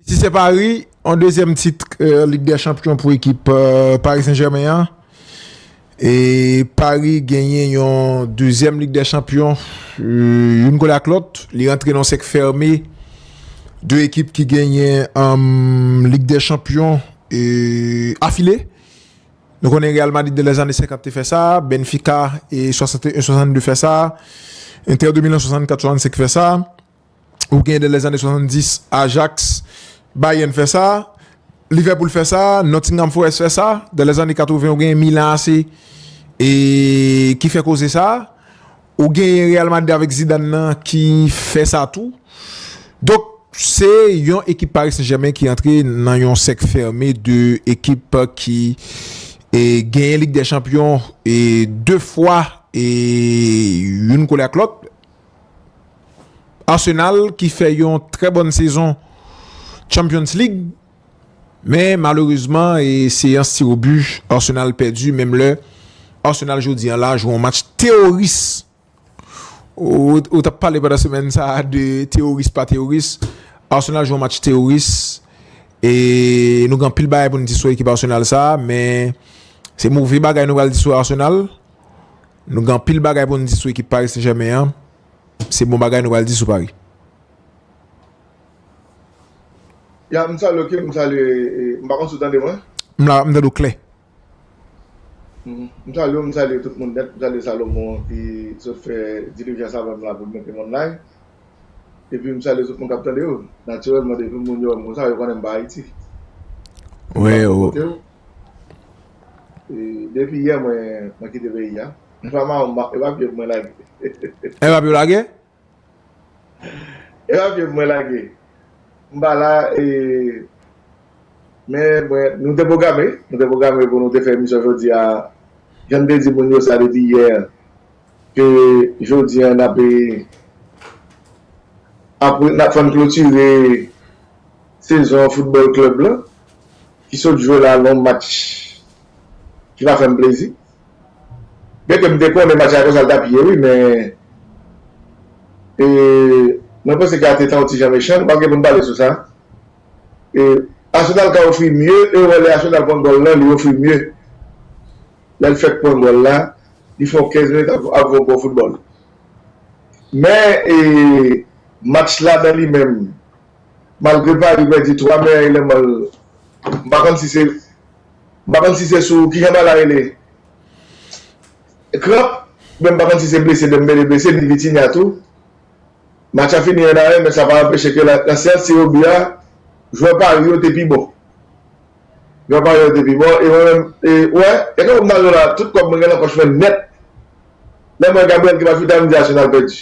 Si se Pari, yon dezyèm tit Lig dè Chanpyon pou ekip Pari Sen Jèmen an. E Pari genyen yon dezyèm Lig dè Chanpyon, youn kole ak lòt. Li rantre nan yon sèk fème. De ekip ki genyen Lig dè Chanpyon afile. Nou konnen Real Madrid nan lèzane senkant te fè sa. Benfika 61, 62 fè sa. Entè de Milan 64, 65 fè sa. Ou gen de lèzane 70, Ajax, Bayern fè sa, Liverpool fè sa, Nottingham Forest fè sa, de lèzane 80 ou gen Milan AC e ki fè koze sa, ou gen Real Madrid avèk Zidane nan ki fè sa tou. Donk se yon ekip Paris Saint-Germain ki antre nan yon sèk fème de ekip ki e genyen Ligue des Champions e 2 fwa e youn kole ak lòt. Arsenal ki fè yon trè bòn sezon Champions League men malerezman e seyans tiro bu Arsenal pèdi menm lè Arsenal jodi an la jwe yon match teyoris ou tap pale pandan semèn sa de teyoris pa teyoris Arsenal jwe yon match teyoris e nou gen anpil bagay pou nou di sou ekip Arsenal sa men se move bagay nou pral di sou Arsenal. Nou gen anpil bagay pou nou di sou ekip Paris Saint Germain an, se bon bagay nou pral di sou Paris. Ya m salye w king m salye m pa konn si w tande mwen. M la, m tande w klè. M salye w, m salye tout moun nèt, m salye Salomon an ki sot fè dilijan sa avèm la pou l mete m online. Epi m salye tout moun kap tande yo. Natirèlman depi moun yo wè m konsa yo konnen m pa Ayiti. Wi, wi. Depi yè mwen kite peyi a. Epa ma ou epa pye pou mwen lage. Epa pye ou lage. Epa pye pou mwen lage. M pa la e men mwen nou te pwograme nou te pwograme pou nou te fè emisyon jodi a jan m te di moun yo sa depi yè ke jodi a n ap e ap fè n klotire sezon foutbòl klèb lan Ki sot jwe la non match ki pa fèm plezi byen ke m te konnen match la konsa l tap ye wi men e mwen panse ke Arteta yon ti jan mechan nou pap gen pou n pale sou sa e Arsenal ka ofri mye e ou wè lè Arsenal pran gòl lan li ofri mye lè l fèk pran gòl la li fè yon 15 minit ap ap yon bon foutbòl men e match la nan li menm. Malgre Paris pèdi 3 meyè eleman l, m pa konn si se m pa konn si se sou ki jan ba la rele kranp oubyen m pa konn si se blese Dembele blese ni Vitinha tou. Match la fini 1 a 1 men sa pa anpeche ke nan seyans tire bi a jwè Paris yo te pi bon. Gran pa yo te pi bon e mwen menm e wè e kòman m nan lwen la tout kòb mwen gen nan pòch mwen nèt lè m wè Gabriel ki pa fouti al m di Arsenal pèdi.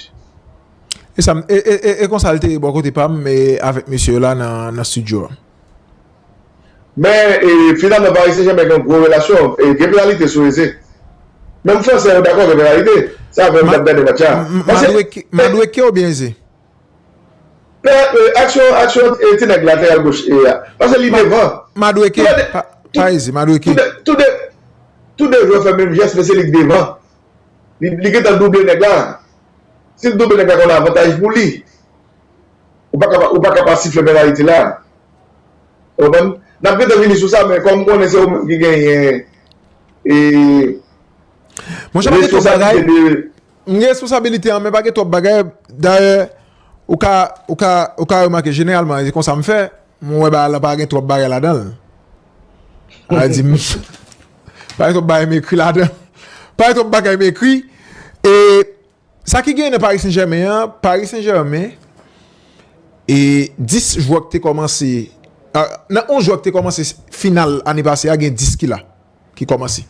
E sa m e e e konsa l te ye bò kote pa m e avèk mesye yo la nan studio a. Men e finalman Paris Saint Germain gen gwo relasyon e gen penalite sou Eze. Menm fransè yo dakò gen penalite. Se avè yo m t ap gade match la. Madueke Madueke oubyen Eze? Aksyon aksyon e ti nèg lateral goch e a. Pase li devan. Madueke pa izi madueke. Tou de tou de jwè fè menm jès men se li ki devan. Li gentan double nèg la. Si l double nèg la gen yon avantaj pou li. Ou pa ka ou pa ka pa sifle penaliti la. Ou konprann? N ap gentan vini sou sa men kòm m konnen se ou menm ki genyen e Monchè pa gen twòp bagay. M gen responsabilite an men pa gen twòp bagay. Dayè, ou ka, ou ka, ou ka remake jeneralman e konsa m fè, mwen wè bagay lan pa gen twòp bagay ladan l. A di m, pa gen twòp bagay m ekri ladan. Pa gen twòp bagay m ekri. E sa ki genyen nan Paris Saint Germain an, Paris Saint Germain e 10 jwè k te kòmanse, nan 11 jwè k te kòmanse final ane pase a gen 10 ki la. ki kòmanse.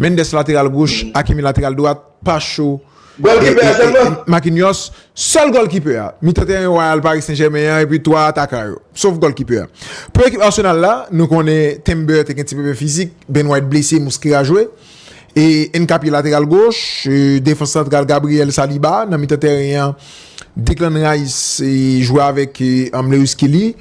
Mendes lateral goch, Hakimi lateral dwat, Pacho e Marquinhos. Sèl gòlkipè a, mitan teren wayal Paris Saint-Germain an epi 3 atakan yo. Sof gòlkipè a. Pou ekip Arsenal la, nou konnen Timber te gen ti pwoblèm fizik, Ben White blese, Mosquera jwe. E Nkapie lateral goch, defans santral Gabriel Saliba nan mitan teren an, Declan Rice jwe avèk Lewis Kelly.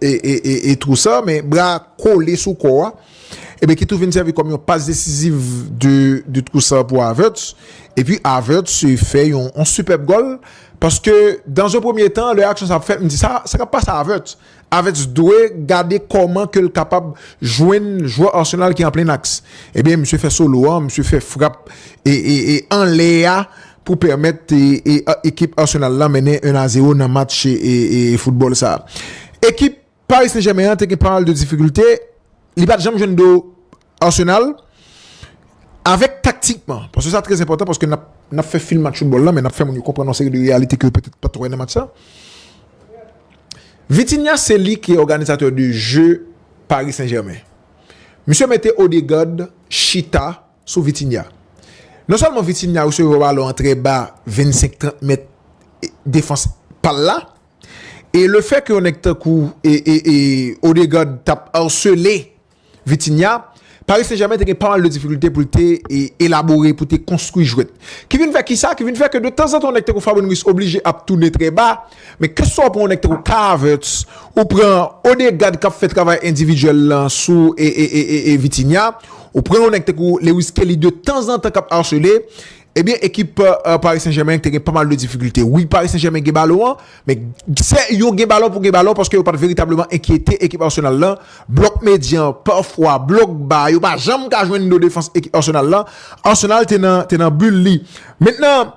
e twou sa, men bra a kole sou kò a, e ben ki tou vin sèvi kòm yon pas desiziv de twou sa pou Havertz, e pi Havertz fè yon sipèb gòl, paske dan ze premye tan, lè aksyon sa ap fèt, m di sa, sa k ap pase a Havertz? Havertz dwe gade kòman ke l kapab jwenn jwè Arsenal ki an plen aks, e ben misye fè solo a, misye fè frap e anlè a, pou pèmèt ekip Arsenal la mennen 1 a 0 nan match foutbòl sa. Ekip Paris Saint-Germain an te gen pamal de difikilte, li pat janm jwenn do Arsenal, avèk taktikman, paske sa trè enpòtan, paske nap fè fil match foutbòl la, men nap fè moun yo konprann yon seri de reyalite ke yo petèt pat wè nan match sa. Vitinha se li ki òganizatè de je Paris Saint-Germain. Misye mete Odegaard chita. Sou Vitinha. Non sèlman Vitinha resevwa yon balon an trè ba 25 30 mèt defans pal la e le fè ke yon nèg tankou Odegaard tap arsele Vitinha, Paris Saint Germain te gen pa mal de difikilte pou l te elabore, pou l te konstwi jwèt. Ki vin fè kisa? Ki vin fè ke de tanzantan yon nèg tankou Fabian Ruiz oblije ap tounen trè ba Men keswa w pran yon nèg tankou Kai Havertz, ou pran Odegaard kap fè travay endividyèl lan sou Vitinha, ou pran yon nèg tankou Lewis Skelly de tanzantan kap arsele, ebyen ekip Paris Saint Germain te gen pa mal de difikilte. Wi Paris Saint Germain gen balon an, men se yo gen balon pou gen balon paske yo pat veritableman enkyete ekip Arsenal lan, blòk medyan an pafwa, blòk ba a, yo pa janm ka jwenn do defans ekip Arsenal lan, Arsenal te nan bul li. Mentnan,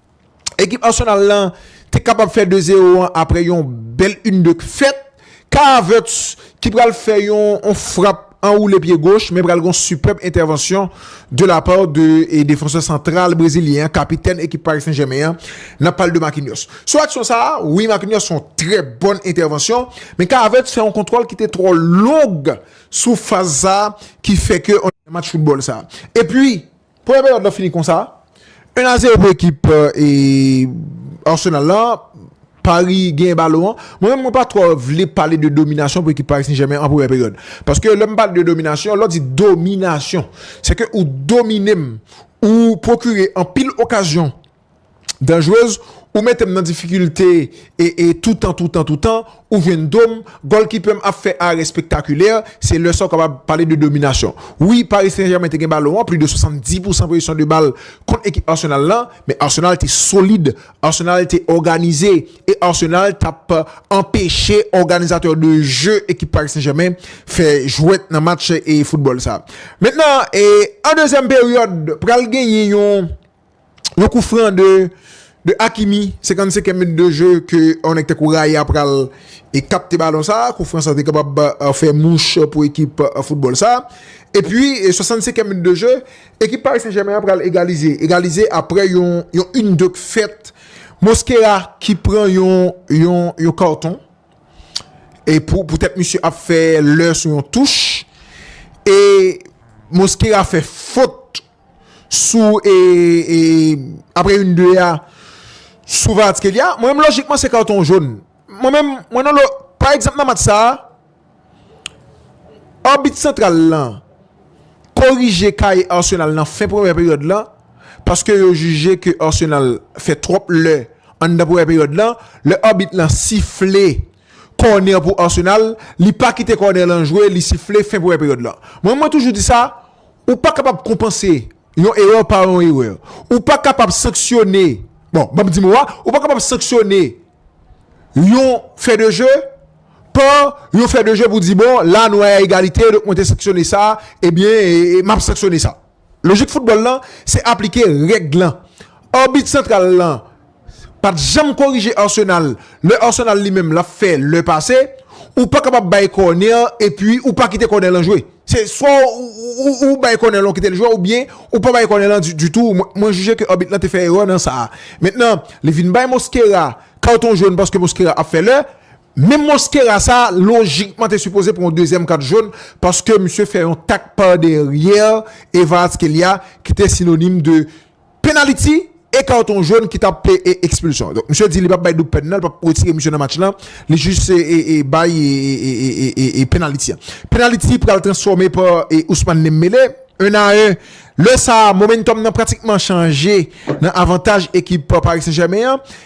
ekip Arsenal la te kapab fè 2 zero an aprè yon bèl yn de k fèt Kai Havertz ki pral fè yon frap anwoule pye goch men pral gon sipèb entèvansyon de la pa de defansè santral brezilyen an kapitèn ekip Paris Saint-Germain an nap pale de Marquinhos sou aksyon sa wi Marquinhos fè yon trè bòn entèvansyon men Kai Havertz fè yon kontwòl ki te twò long sou faz sa ki fè ke match foutbòl sa epi Premye peryòd lan fini konsa, 1 a 0 pou ekip Arsenal la, Paris genyen balon an, mwen menm mwen pa twò vle pale de dominasyon pou ekip Paris Saint-Germain an premyè peryòd, paske lè m pale de dominasyon, lè w di dominasyon, se ke ou domine m, ou pwokire anpil okazyon. Danjrez ou metem nan difikilte e toutan toutan toutan ou jwenn dom golkipèm ap fè arè spektakulè se lè sa ou kapab pale de dominasyon wi Paris Saint Germain te gen balon an plis de 70 pousan pozisyon de bal kont ekip Arsenal lan men Arsenal te solid Arsenal te òganize e Arsenal tap anpeche òganizatè de je ekip Paris Saint Germain fè jwèt nan match e foutbòl sa mentnan e an dezyèm peryòd pral genyen yon. Yon kou fran de Hakimi, 55 minutes de jeu ke yon nèg tankou Raya pral kapte balon sa, kou fran sa te kapab fè mouch pou ekip foutbòl sa. E pwi 65 minutes de jeu, ekip Paris Saint-Germain an pral egalize, egalize aprè yon yn de k fèt Mosquera ki pran yon karton e pou tèt misye ap fè lè sou yon touch e Mosquera fè fot sou e apre youn de a sou Kvaratskhelia, mwen menm lojikman se karton joun. Mwen menm, mwen nan lo, pa egzanp nan match sa a, abit santral lan korije kaye Arsenal nan fen premyè peryòd lan paske yo jije ke Arsenal fè twòp lè anndan premyè peryòd lan, lè abit lan sifle. Kònè pou Arsenal, li pa kite kònè lan jwe, li sifle fen premyè peryòd lan. Mwen mwen toujou di sa, ou pa kapab konpanse yon erè pa yon erè. Ou pa kapab sanksyone, bon, banm di mo a, ou pa kapab sanksyone yon fè de je pa yon fè de je pou di bon, la nou a egalite, donk mwen te sanksyone sa, ebyen, map sanksyone sa. Lojik foutbòl lan se aplike règ lan. Arbit santral lan pat janm korije Arsenal lè Arsenal li menm lap fè lè pase, ou pa kapab bay kònè epi ou pa kite kònè lan jwe. Se swa ou bay kònè lan ou kite l jwe oubyen ou pa bay kònè lan ditou. Mwen jije ke arbit lan te fè erè nan sa a. Mentnan li vin bay Mosquera carton jaune paske Mosquera ap fè lè. Menm Mosquera sa lojikman te sipoze pran yon dezyèm kat jón paske misye fè yon tak pa dèryè e Kvaratskhelia ki te sinonim de penaliti e karton jón ki tap te ekspilsyon. Donk misye di li pap bay doub pèn nan, li pap retire misye nan match lan, li jis bay penaliti an. Penaliti pral transfòme pa Ousmane Dembélé, 1 a 1. Lè sa a momentum nan pratikman chanje nan avantaj ekip Paris Saint-Germain an.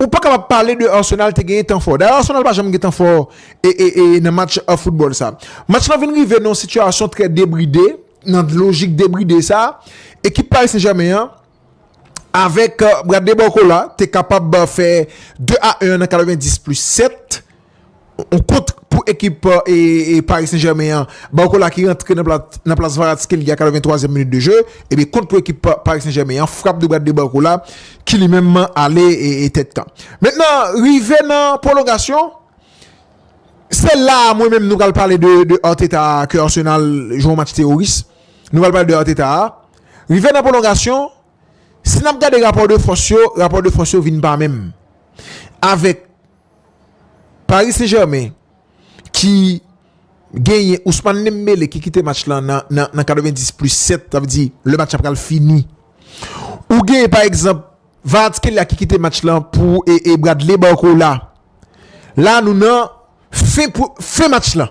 Ou pa kapab pale de Arsenal te genyen tan fò. Dayè Arsenal pa janm gen tan fò nan match foutbòl sa. Match lan vin rive nan yon sitiyasyon trè debride, nan lojik debride sa, ekip Paris Saint-Germain an avèk Bradley Barcola te kapab fè 2 a 1 an nan 90 plis 7. On kont pou ekip Paris Saint-Germain an, Barcola ki rantre nan plas Kvaratskhelia a 83 èm minit de je. Ebyen kont pou ekip Paris Saint-Germain an, frap de bat de Barcola ki li menm ale tèt kan. Mentnan rive nan pwolongasyon, se la a mwen menm nou pral pale de Arteta ke Arsenal jwe yon match teworis. Nou pral pale de Arteta a. Rive nan pwolongasyon, si n ap gade rapò de fòs yo, rapò de fòs yo vin pa menm avèk. Paris Saint Germain ki genyen Ousmane Dembélé ki kite match lan nan 90 plus 7 sa vle di lè match la pral fini ou genyen pa egzanp Kvaratskhelia ki kite match lan pou Bradley Barcola la nou nan fen match lan.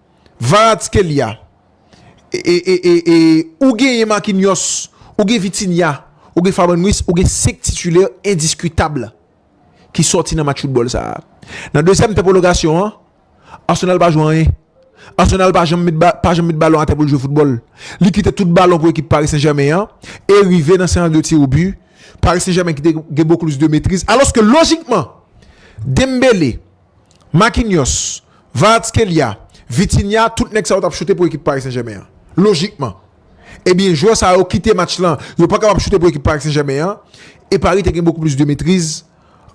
Kvaratskhelia e ou genyen Marquinhos, ou gen Vitinha, ou gen Fabian Ruiz, ou gen 5 titulè endiskutab ki sòti nan match foutbòl sa. Nan dezyèm tan pwolongasyon an, Arsenal pa jwe anyen. Arsenal pa janm met balon atè pou l jwe foutbòl. Li kite tout balon pou ekip Paris Saint Germain an e rive nan sèyanl de tir au but, Paris Saint Germain ki te gen bokou plis de metriz. Alòske lojikman, Dembele. Makinyòs, Varatskhelia, Vitinha tout nèg sa yo t ap choute pou ekip Paris Saint-Germain an. Lojikman. Ebyen jwè sa yo kite match lan yo pa kapab choute pou ekip Paris Saint-Germain an e Paris te gen bokou plis de metriz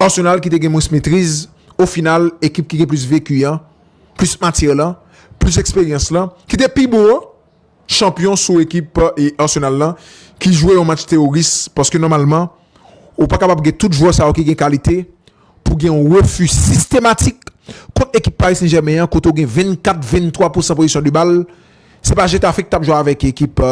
Arsenal ki te gen mwens metriz ofinal ekip ki gen plis veki an, plis matyè lan, plis eksperyans lan ki te pi bon an. chanpyon sou ekip Arsenal lan ki jwe yon match teworis paske nòmalman ou pa kapab gen tout jwè sa yo ki gen kalite pou gen yon refi sistematik kont ekip Paris Saint-Germain an kote ou gen 24 23 pousan pozisyon de bal se pa Getafe ki t ap jwe avèk ekip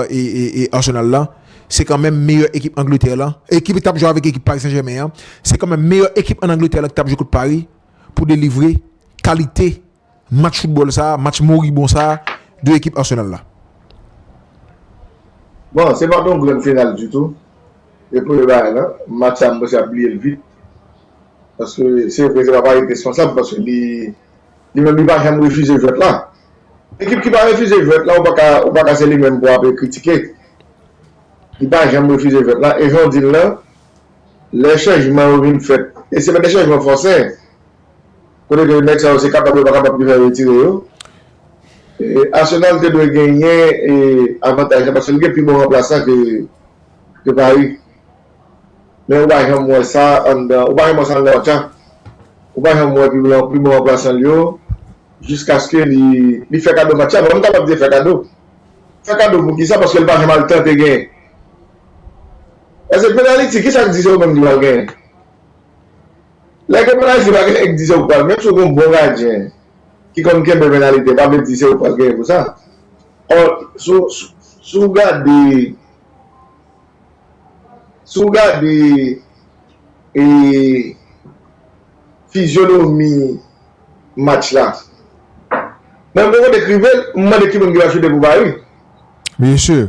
Arsenal lan se kanmenm meyè ekip Angletè lan ki t ap jwe avèk ekip Paris Saint-Germain an se kanmenm meyè ekip an Angletè lan ki t ap jwe kont Paris pou delivre kalite. Match football sa, match moribon sa 2 ekip Arsenal la. Bon, se pat yon grann final ditou. E premye bagay lan, match sa m panse y ap bliye l vit. Paske se vre se pa Paris ki responsab paske li li menm li pa janm refize jwèt la. Ekip ki pa refize jwèt la ou pa ka ou pa ka se li menm pou w ape kritike. Li pa janm refize jwèt la e jan w di l lan lè chanjman yo vin fèt e se pa de chanjman fòse Kote ke nèg sa yo se kapab yo pa kapab ki fè yo retire yo. Arsenal te dwe genyen avantaj la paske li gen pi bon ranplasan ke Paris. Men ou pa janm wè sa anndan, ou pa janm wè sa anndan Barça. Ou pa janm wè pi bon ranplasan l yo jiskaske li fè kado match la. Bon, m ta pap di fè kado. Fè kado pou kisa paske l pa janm al tante genyen. Paske penaliti kisa k di se ou menm ki pral genyen? Lè ke Penazi pa gen èk dizè ou pral menm si ou gen yon bon gadyen ki konn kenbe penalite pa vle di se ou pral genyen pou sa. Or si ou gade si ou gade e fizyonomi match la mwen poko dekrive l, m mande ki moun ki va choute pou Paris. Mesye!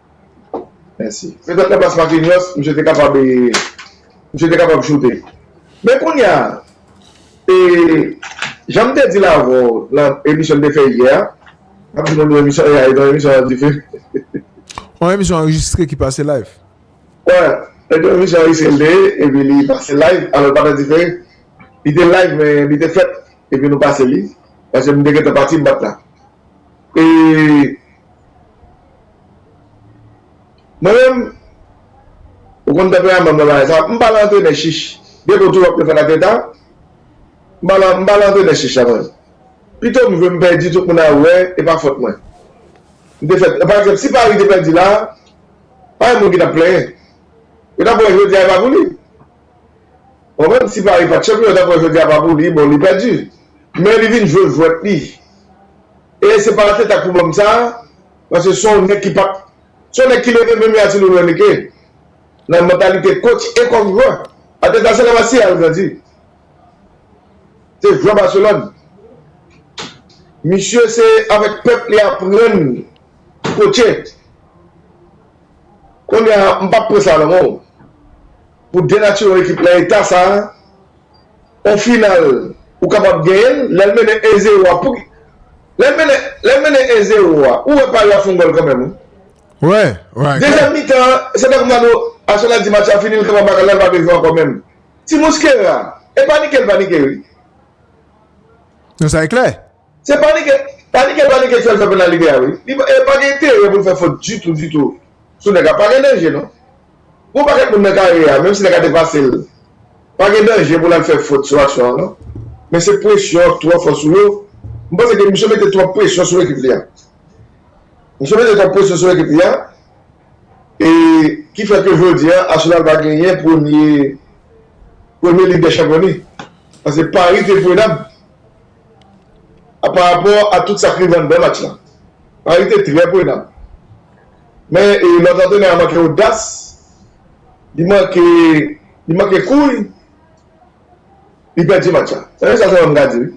Mèsi. Petèt nan plas Marquinhos, misye te kapab e, misye te kapab choute. Men kounya, e, jan m te di l avan w nan emisyon n te fè yè a, m ap di moun yon emisyon AI non, emisyon an dife. Yon emisyon anrejistre ki pase live. Wè, se yon emisyon anrejistre li te ye, epi li pase live, alò l pa t andife. Li te live men li te fèt, epi nou pase li, paske m te gentan pati, m pa t la. E. Mwen menm, ou konn tanperaman mwen bagay sa, m pa lan antrenè chich. Gen bon tou wap defann ak leta, m pa lan m pa lan antrenè chich la mwen. Pito m jwe m pèdi tout moun ap wè e pa fòt mwen. M te fèt, pa egzanp si Paris te pèdi la, pa gen moun ki tap plenyen. Yo tap wè jodi a e pa pou li. Ou konprann, si Paris pat chanpyon yo tap wè jodi a pa pou li, bon li pèdi. Men li vin jwe jwèt li. E se pa atetak pou banm sa, paske son nèg ki pap, son nèg ki leve menm jan a ti loulou enrique, nan mantalite coach e kòm jwè. Ateta se la masia l grandi. Se jwè Barcelone. Misye se avèk pèp li aprann coache. Konnya m pap pran sa nan men w. Pou denatire yon ekip nan eta sa. On final ou kapab genyen l lèl mennen 1 zero a pouki lèl mennen lèl mennen 1 zero a ou wè Paris ap fon gòl kanmèm wi dezyèm mitan an se tankou Mano Arsenal di match la fini li kanpe baka lèl pa bezwen ankò menm ti mouskera e panike l panike wi. Non sa e klè. Se panike, panike, panike ti a li fè pou nan libè a wi. Li pa e pa gen enterè pou l fè fot ditou, ditou sou nèg la. Pa gen danje non. Gen yon pakèt moun nan kare a, menm si nèg la te pase l, pa gen danje pou l al fè fot sou aksyon an non. Men se presyon an ki twò fò sou yo. M panse ke misye mete twòp presyon sou ekip li a. Misye mete twòp presyon sou ekip li a e ki fè ke jodi a Arsenal pa genyen premye, premye Lig dè Chanpyon li. Pase Paris te prenab. a pa rapò a tout sa k rive anndan match la. Pari te trè prenn. Men lòt antrenè a manke odas, li manke li manke kouy, li pèdi match la. Se sèl sa Joram ka di wi.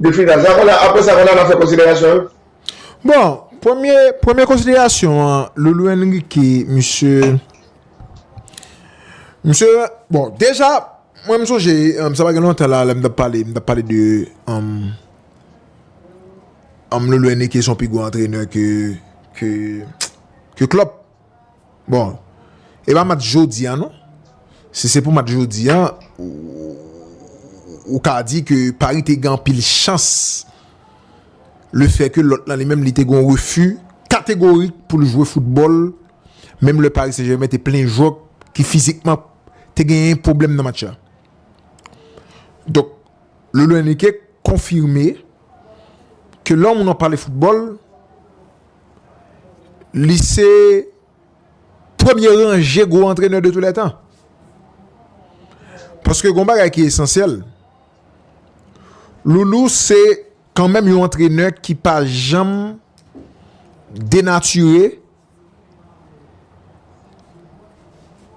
De final sa konn aprè sa konn al nan fè konsiderasyon yo. Bon, premye premye konsiderasyon an Loulou Enrique misye misye bon deja Mwen m sonje sa pa gen lontan la lè m t ap pale m t ap pale de Lolo Enrique se yon pi gwo antrenè ke Klopp bon e pa match jodi a non si se pou match jodi a ou ka di ke Paris te gen anpil chans le fè ke lòt lan li menm li te gen yon refi kategorik pou l jwe foutbòl menm lè Paris Saint Germain te plen jwè ki fizikman te genyen pwoblèm nan match la. Donk, Lolo Enrique konfime ke lè yon moun ap pale foutbòl, li se premye ranje gwo antrenè de tou lè tan. Paske gen yon bagay ki esansyèl, Loulou se kanmenm yon antrenè ki pa janm denatire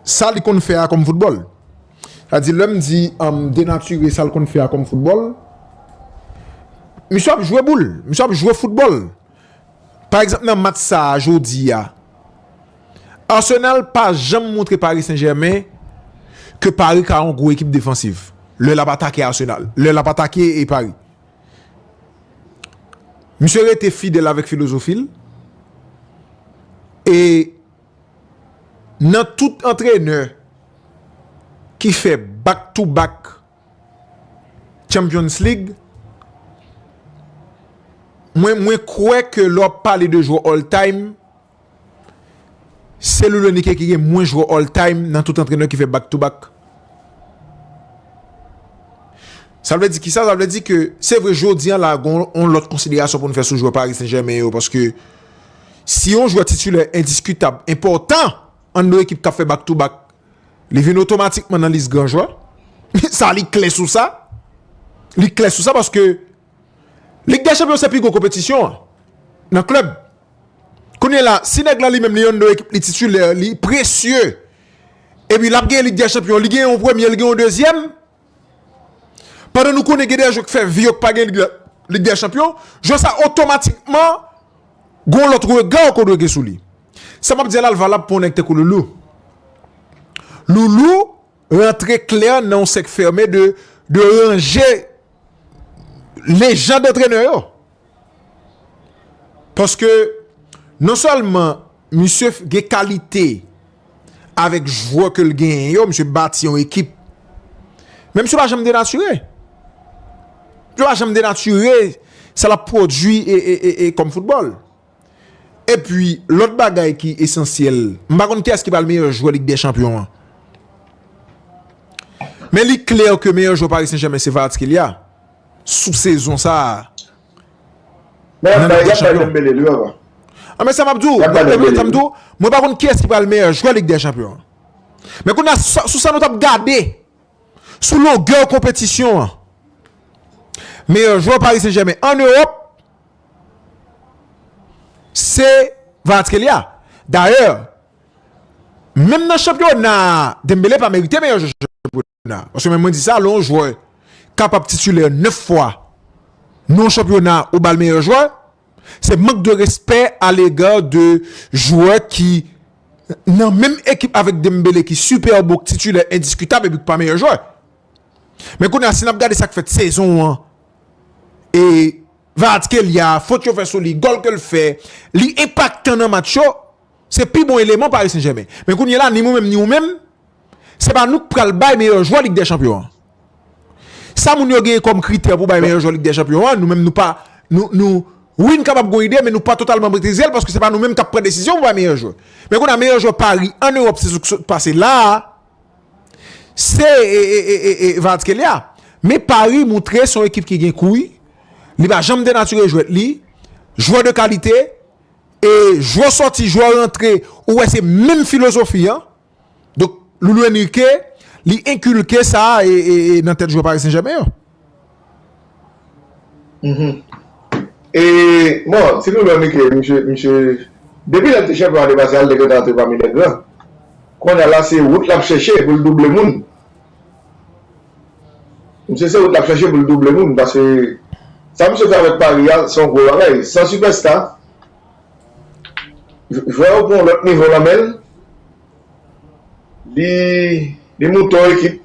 Sa li konn fè a kòm foutbòl. Sa di lè m di denatire sa l konn fè a kòm foutbòl, misye ap jwe boul, misye ap jwe foutbòl. Pa egzanp nan match sa a jodi a, Arsenal pa janm montre Paris Saint Germain ke Paris ka yon gwo ekip defansiv lè l ap atake Arsenal, lè l ap atake Paris. Misye rete fidèl avèk filozofi l e nan tout antrenè ki fè back to back Champions League mwen kwè ke lè w ap pale de jwè all time Se Luis Enrique ki gen mwens jwè all time nan tout antrenè ki fè back to back. Sa vle di kisa? Sa vle di ke se vre jodi an la gen yon lòt konsiderasyon pou nou fè sou jwè Paris Saint-Germain yo paske si yon jwè titilè endiskitab, enpòtan ann nou ekip k ap fè back to back li vin otomatikman nan lis gran jwè. Sa li klè sou sa. Li klè sou sa paske Lig dè chanpyon se pi gwo konpetisyon an nan klèb. Kounye la si nèg la li menm li yon nan ekip li titulè li presye epi lap gen lig dè chanpyon li gen yon premye li gen yon dezyèm pandan nou konnen gen dè jwè k fè vi yo k pa gen lig dè chanpyon jwè sa otomatikman gon lòt rega ou ko dwe gen sou li. Sa map di a la l valab pou yon nèg tankou Loulou. Loulou rantre klè nan yon sèk fèmen de ranje Lejand antrenè yo. Paske non selman misye gen kalite avek jwè ke l gen yo, misye bati yon ekip. Men misye pa janm denatire. Misye pa janm denatire sa l ap pwodui e kom foutbol. Epi lòt bagay ki esansyèl, m pa konn kiyès ki pral meyè jwè Lig dè Chanpyon an. Men li klè ke meyè jwè Paris Saint-Germain se Kvaratskhelia sou sezon sa a. Men yap bay, yap bay Dembele li, ou wè pa. A men sa map di w, yap bay Dembele li. Sa m di w, mwen pa konn kiyès ki pral meyè jwè Lig dè Chanpyon an. Men kounye a sou sa nou tap gade, sou longè konpetisyon an, meyè jwè Paris Saint-Germain an Ewòp, Se Kvaratskhelia. Dayè, menm nan chanpyona a, Dembele pa merite meyè jwè chanpyona a. Paske menm mwen di sa, lè yon jwè kapab titulè 9 fwa nan yon chanpyona ou ba l meyè jwè, se mank de respè alega de jwè ki nan menm ekip avèk Dembele ki sipèb ou ki titulè endiskitab epi ki pa meyè jwè. Men kounye a si n ap gade sa k fèt sezon an e Kvaratskhelia, fot yo fè sou li, gòl ke l fè, li enpaktan nan match yo, se pi bon eleman Paris Saint-Germain. Men kounye la ni mwen menm ni ou menm, se pa nou k pral bay meyè jwè Lig dè Chanpyon an. Sa moun yo genyen kòm kritè pou bay meyè jwè Lig dè Chanpyon an, nou menm nou pa, nou, nou, wi n kapab gon ide men nou pa totalman metrize l paske se pa nou menm k ap pran desizyon pou bay meyè jwè. Men kounye a meyè jwè Paris an Ewòp sezon k sot pase la a, Se Kvaratskhelia, men Paris moutre se yon ekip ki gen kouy, li pa janm denatire jwèt li, jwè de kalite, e jwè sòti, jwè rantre, ou wè se menm filozofi an. Donk Loulou Enrique, li enkilke sa nan tèt jwè Paris Saint-Germain yo. E, bon, si nou wè Micky, misye, misye, depi lè l te chanpyon ane pase a, l te gentan antre pami lè gran. Kounye a la, se wout l ap chèche pou l double moun. Misye se wout l ap chèche pou l double moun, paske sa misye fè avèk Paris a, se yon gwo bagay. San sipèsta, jwè yo pran yon lòt nivo nan men l, li, li moute yon ekip.